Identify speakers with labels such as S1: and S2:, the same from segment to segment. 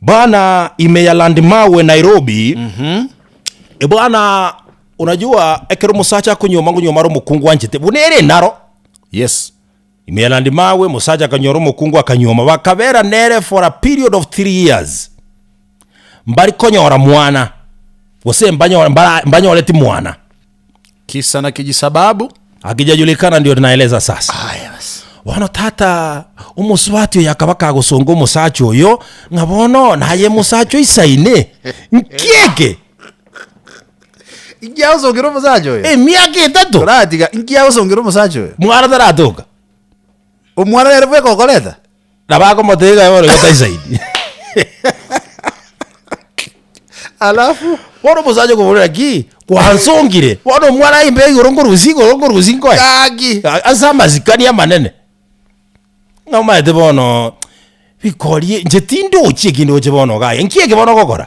S1: Bana ime ya Landmawe Nairobi. Ebwana unajua ekero omosacha akonyoma ngonyoma are omokungu anchete buna ere enaro yes
S2: ime ya
S1: Landmawe mosacha akanyora omokungu akanyoma bakabera nere for a period of three years mbari konyora mwana gose mbanyore mbara mbanyoreti mwana Kisa
S2: na kijisababu. Hakijajulikana
S1: ndio naeleza sasa. Ah, yes. Bono
S2: tata
S1: omosubati oyo akaba kagosonga omosacha oyo ng'a bono naye mosacha oisaine nkieke
S2: Inki agosongera omosacha oyo? emiaka etato Toratiga
S1: inki agosongera
S2: omosacha oyo? mwana taratoka Omwana nere bweka okoreta? Nabo akomotebia
S1: kaye bono igo taisaidi.
S2: Alafu bono omosacha
S1: okoboria ki kwansongire bono omwana aye imbe igoro nkorusia igoro nkorusia nkoe Gaki. A-
S2: ase amasikani
S1: amanene ng'a omaete bono bikori inche tindochi ekende oche bono iga aye nki eke bono ogokora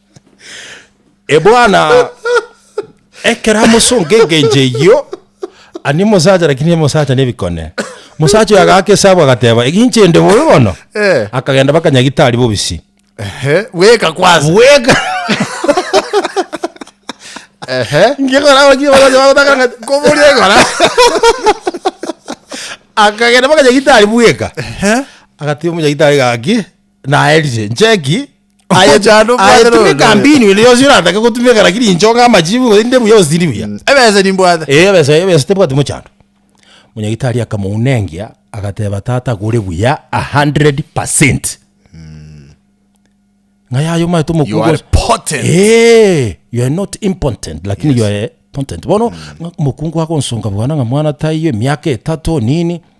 S1: Ebwana, ekero amosonga engencho eyio, ani omosacha lakini omosacha nebikone. Omosacha oyo agaaka esabu agateba, egencho ende bobe bono? Eh. Akagenda baka nyagitari bobisi. Ehe, bweka
S2: kwansa. Bweka.
S1: Ehe. Ngikora abaki abasacha bagotaka ng'a kobori ekora. Akagenda baka nyagitari bweka. Ehe. Agati omunyagitari gaki, naeririe, ncheki, Aye- Okochanda obwate aye tumeka noyote. mbinu ende yonsi oratake gotumeka lakini inche onga amachibu gose ninde buya gose tindi buya Ebese nimbwate.
S2: Eh, ebesa ebesa tebwati
S1: mochando monyagitari akamounengia agateba tata gore buya 100 percent ng'a yaye omaete You are omokugo potent. Eh,
S2: you
S1: are not impotent lakini you are potent bono ng'a omokungu agonsonga bwana ng'a mwana taiyo emiaka etato nini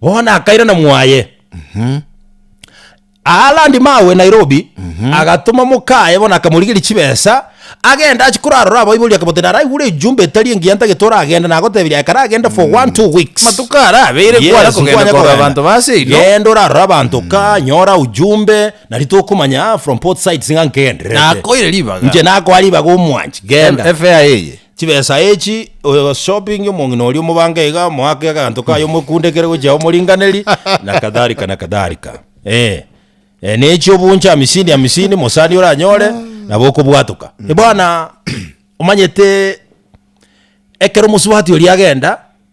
S1: Bono akairana mwaye. Aa landi mawe Nairobi, agatoma mokaye bono akamorigeria chibesa, agende ache korarora abaibori akabota naraigure ejumbe etari engiya ntagete oragende nagoteberia aye karagende for one two weeks. Matuko ara abeire Yes, kware
S2: kogenda nkwanya korora kogenda. abanto ba ase igo. Genda orarore abanto
S1: ka nyora ujumbe nari tokomanya ah, from both sides ng'a nkegendererete. Nakoire ribaga.
S2: Inche nakoa ribaga
S1: omwanchi genda. Efea eye. Chibesa
S2: echi
S1: ogoshopingia omong'ina oria omobange iga, omoake aganto kaye omokundekere gochia omoringaneri, na kadhalika na kadhalika. Eh, eh, nechi obunche hamisini hamisini mosani oranyore, nabo okobwatoka. Bono omanyete ekero omosubati oria agenda.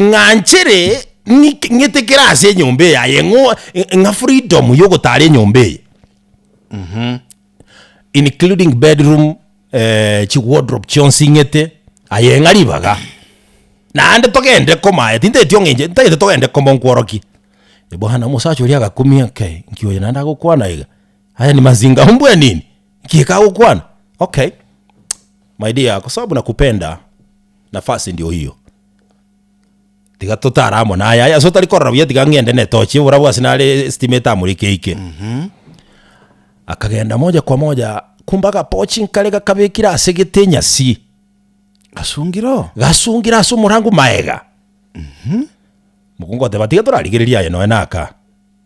S1: ng'a nchere ng'ik- ng'ete kere ase enyomba eye aye ng'o- ng'a freedom ya ogotara enyomba eye including bedroom eh, chiwardrobe chionsi ng'ete aye ng'a ribaga naende togende komaete inteti ong'enche ntagete togende koma nkworokie bono omosacha oria agakumia okay nki oyo naende agokwana iga haya ni mazinga huu mbwaa nini? nki ekagokwana okay my dear kwa sababu nakupenda. Nafasi endi ohiyo. Tiga totare amo naye aye ase otari korora buya tiga ng'ende na etochi oborabu ase nare estima etamoreke eike. Akagenda moja kwa moja kumbe agapochi inkare gakabekire ase egete enyasi Gasungire oo. gasungire ase omorango maega. Mokungu oteba tiga torarigererie aye nonya naka.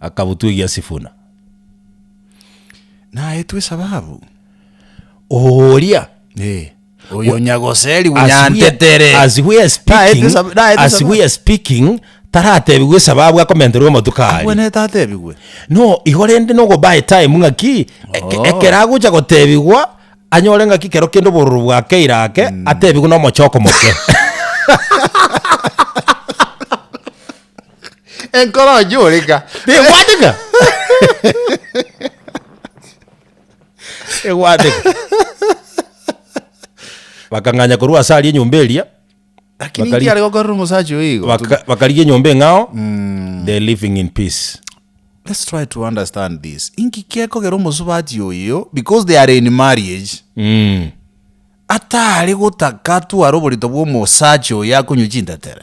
S1: akabutwegia Sifuna.
S2: Naetwe esababu
S1: oria Eh,
S2: oyo nyagoserigwa As we are- nyantetere. as we are
S1: speaking- Naetwe esab- naetwe as esababu. we are speaking, taratebigwe esababu akomenterwa amatuko aria. Abwenete atebigwe.
S2: No, igo
S1: rende nogobuy time ng'aki eke- Oh. ekero agocha gotebigwa anyore ng'aki kero kende obororo bwakeire ake atebigwe nomochoko moke.
S2: Enkoro onye oreka. Egwateka.
S1: Egwateka. Bakang'anya korwa ase aria enyomba eria. Lakini Bakari-
S2: nkiare gokorera omosacha oyo igo. Baka- bakarigia enyomba eng'ao
S1: they're living in peace Let's try
S2: to understand this. Inki kekogera omosubati oyo because they are in marriage. Mm. Atare gotaka tware oborito bwa omosacha oyo akonywa chintetere.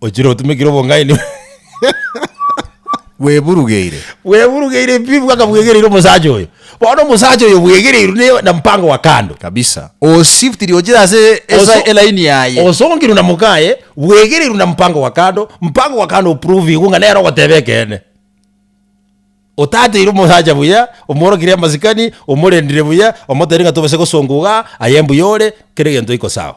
S1: Ochire otumekire obong'aini. Bweburugeire. Bweburugeire pi bwaka bwegereire omosacha oyo. Bono omosacha oyo bwegereirwe ne na mpango wa kando. Kabisa. O
S2: shiftiri ochire ase Oso- elaini yaye. Osongirwe na mokaye,
S1: bwegereirwe na mpango wa kando, mpango wa kando oprovigwe ng'a nere ogoteba ekeene. Otateire omosacha buya, omworokire amasikani, omorendire buya, omoteire ng'a tobase gosonga igaa, aye mbuya ore, kera egento iko sawa.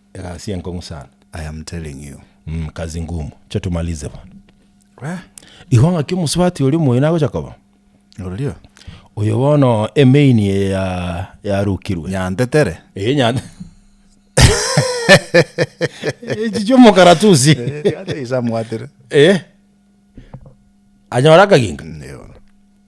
S1: Egasi y'enkong'u
S2: sana.
S1: I am telling
S2: you.
S1: Mm, kazi ngumu. Acha tumalize bono. Wee. Igo ng'aki omosubati oria omoyio nagocha koba? Orio.
S2: Oyo bono
S1: emeini eye ya yarukirwe. Nyantetere. Eye
S2: nyante.
S1: Echi chiomokaratusi. Ate isamwatire.
S2: Eh.
S1: Anyora akaginga. Ndio.